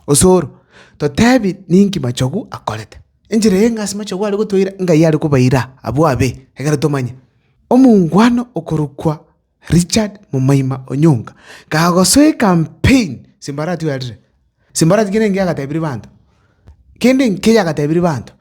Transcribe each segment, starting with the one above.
Osoro, totebi ninki machogu akorete. Enchera eye ng'a ase machogu are gotoira ng'ai are kobaira abwo abe, ekero tomanye. Omongwana okorokwa Richard momaima Onyonga, kagosoa ecampaign simbarati werire. Simbarati kende enki yagatebirie banto, kende enki yagatebirie banto.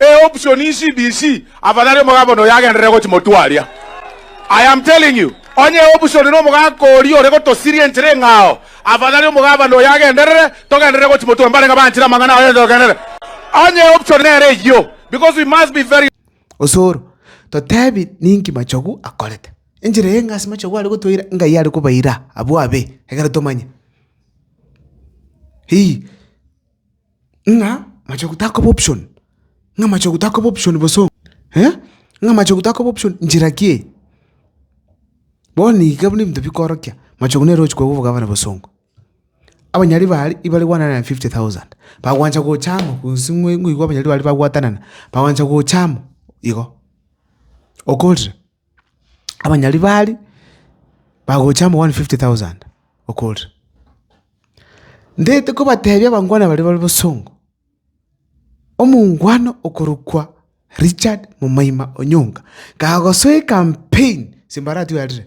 E option insi DC afadhali omogaka noyo agenderere gochi motwe aria. I am telling you, onye e option na omogaka oria ore gotosiria enchera eng'ao, afadhali omogabana oyo agenderere, togenderere gochi motwe, mbare ng'a banchire amang'ana aye togenderere. Onye e option nere eyio, because we must be very. Osoro, totebi ninki machogu akorete. Enchera eye ng'a ase machogu are gotoira, ng'ai are kobaira abwo abe, ekero tomanye. Hii. ng'a machogu takoba option, ng'a machogu takoba option boso, ng'a machogu takoba option nchera ki eye? Bono iga buna ebinto bikorokia, machogu nere ochi korwa obogavana bosongo. Abanyari ba aria ibare one hundred and fifty thousand, bagwancha gocha amo gose ngoigwe abanyari ba aria bagwatanana, bagwancha gocha amo igo, okorire. abanyari baria bagocha amo 150,000 okorire. Ndete kobatebia abangwana baria bare bosongo, omongwana okorokwa Richard Momoima Onyonga, kagosoa ecampaign ase Mbarathi orarire,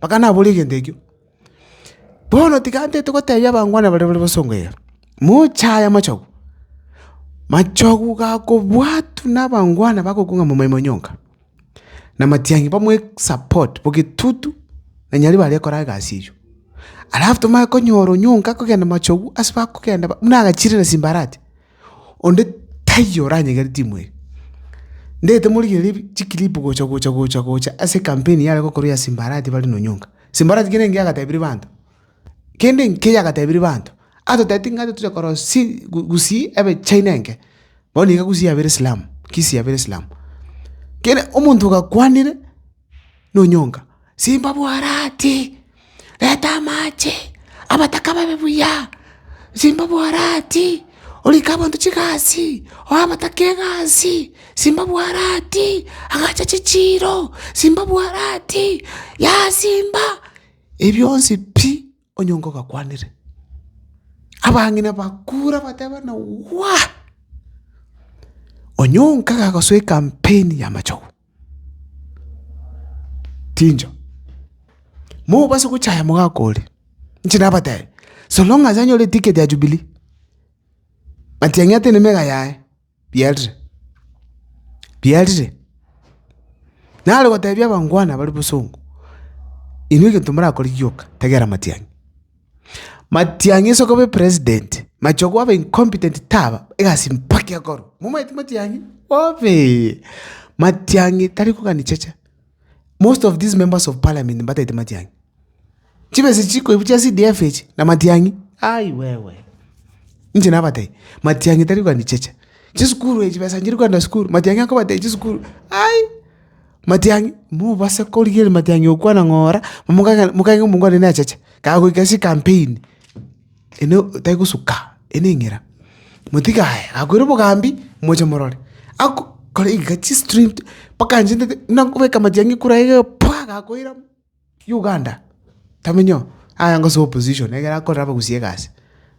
Bakanaboria egento ekio. Bono tiga ntete gotebia abangwana baria bare bosongo iga, moche aye amachogu, machogu gakobwatwa na abangwana bagokwa ng'a momoima o nyonga, na matiang'i bamoe support bo getutu na nyarebe aria akore egasi eywo. Alafu tomanye konyora onyonga akogenda machogu ase bakogenda ba- buna agachire na simbarati. onde taiyo oranyegere timu eye. Ndagete morigererie bi- chiclip gocha gocha gocha gocha ase ekampeni yare gokorwa ya simba arati bare na onyonga. Simba arati kende engiya agatebirie banto, kende enkiya agatebirie banto, atotebeti ng'a toche korora si gu- gusii ebe china enke, bono iga gusii yabere slam, kisii yabere slam. Kere omonto ogakwanire na onyonga, simba bwarati. reta amache, abataka babe buya, simba obwarati, orike abanto chigasi, oe abataka egasi, simba obwarati, agacha chichiiro, simba obwarati, yaya simba, ebi bionsi pi, onye nkogakwanire. Abang'ina bakure batebe buna waa! Onye onka gagosoa ekampeni y'amachogo. Chincho, mobase gochaya omogaka oria, inche nabatebi, so long as anyore eticket ya Jubilee, matiang'i atene meka yaye, biarire, biarire. Nare gotebia abangwana bare bosongo, inwe egento morakore gioka, tagera matiang'i. Matiang'i ase okoba epresident, machia kwaba incompetent taba egasi mpaka ekorwe. Momaete Matiang'i? Obee! Matiang'i tari kogania cheche. Most of these members of parliament mbataete Matiang'i. Chibesa echi chikoibu chia CDF echi na Matiang'i? Ai wewe! Inche nabatebi, Matiang'i tari kogania cheche. Chisukuru echi chibesa nchiri kogenda sukuru, Matiang'i akobatebia chisukuru, ai! Matiang'i, mobase korigereria matiang'i gokwana ng'a ora, momokaka mokagega ng'a omonto one nacheche, kagoika ase ekampeni, ene tari gosuka, ene eng'era. Motiga aye, akoira obogambi, moche morore, ako kore iga chistream mpaka anchendete, buna nkobeka matiang'i kure aye paa! gakoirana. Uganda tamenyo aya ngose opposition ekero akorera abagusi egasi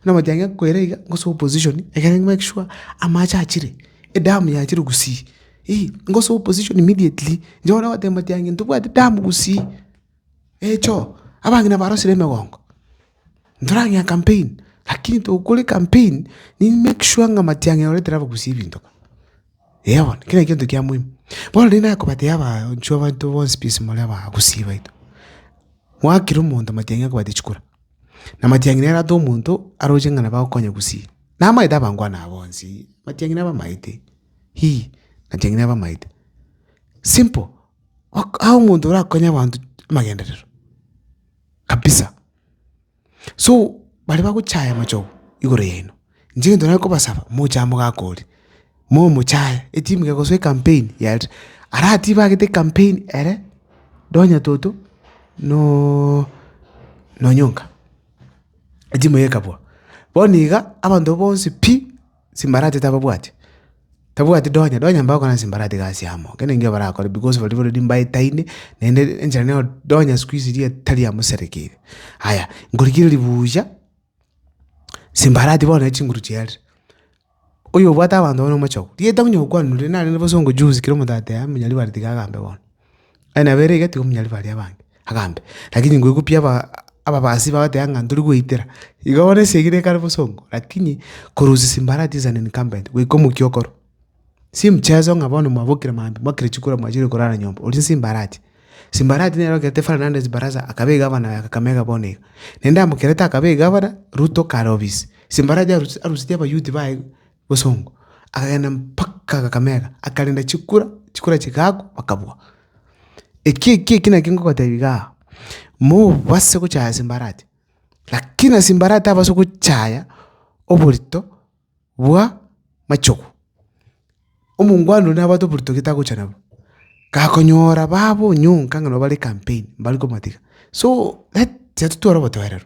buna omotebia ng'a kwere iga ngose opposition ekere make sure amache achire edamu yachire gusii ii ngose opposition immediately inche bono ogoteba omotienyi ntobwati damu gusii eh choo abange nabarosire emegongo. Ntorang'ea campaign, lakini togokora ecampaign, nigo make sure ng'a amatiang'e orete nabo gose ebinto iga. Eeh bono, kera egento kia moimo. Bono riria nakobatebi abaanchu abanto bonsi pi ase more abaa gusii baito, gwakire omonto amatiang'i akobatebi chikora, na amatiang'i nere atoe omonto aroche ng'a nabo agokonya gusii. Namaete abangwana aba bonsi, amatiang'i nabo amaete, hii, amatiang'i nabo amaete. Simple, ok aa omonto orakonye abanto amagenderero. kabisa. So, bare bagochaya amachogo igoro yaino, inche egento nare kobasaba, moche amo gakori, momochaye, etimu kegosoa ecampaign yaaria, aratibe agete ecampaign ere, ndo onye toto nooo na onyonga. Etimu eye ekabua. Bono iga, abanto bonsi pi. Chimbarati tababwati? Tabwati donya, donya mbagokora chimbarati gasi amo. Ekero ningio barakore because baria already mbaetaine, naende enchera nero donya siku hizi riria tari amo serekire. Aya, nkorigereria buya, chimbarati bono ne chinguru chiarire. Oyobwate abanto bono omochao, rieta onye okwanire narenge bosongo juzi kera omonto ateame monyaribare tiga agambe bono. Aye nabo ere iga tigomonyari baria abange. Agambia, rakini ngoigwa pi aba ababasi bagoteba ng'a ntori gweitera. Iga bono esegi nekare bosongo, rakini korusia simbarati is an incumbent, goika omokia okoro. Si mchezo ng'a bono mwabokire maambia, mwakire chikura mwachire korara nyomba, oria simbarati. Simbarati nere okerete Fernandez Barasa akaba egavana oye Kakamega bono iga. Naende amokerete akaba egavana, Ruto kare obisi. Simbarati arusi arusirie abayouth baye bosongo, akagenda mpaka Kakamega, akarenda chikura, chikura chigakwa, bakabua. Eki eki eki naki ngogotebia iga aa, mobase gochaya simbarati, lakini ase simbarati tabasa gochaya oborito bwa machogu. Omongwana oria nabwate oborito gete agocha nabwo, gakonyora babwo nyonka ng'a nabo bare campaign, mbare komatiga. So let tiatotwara obotoereru.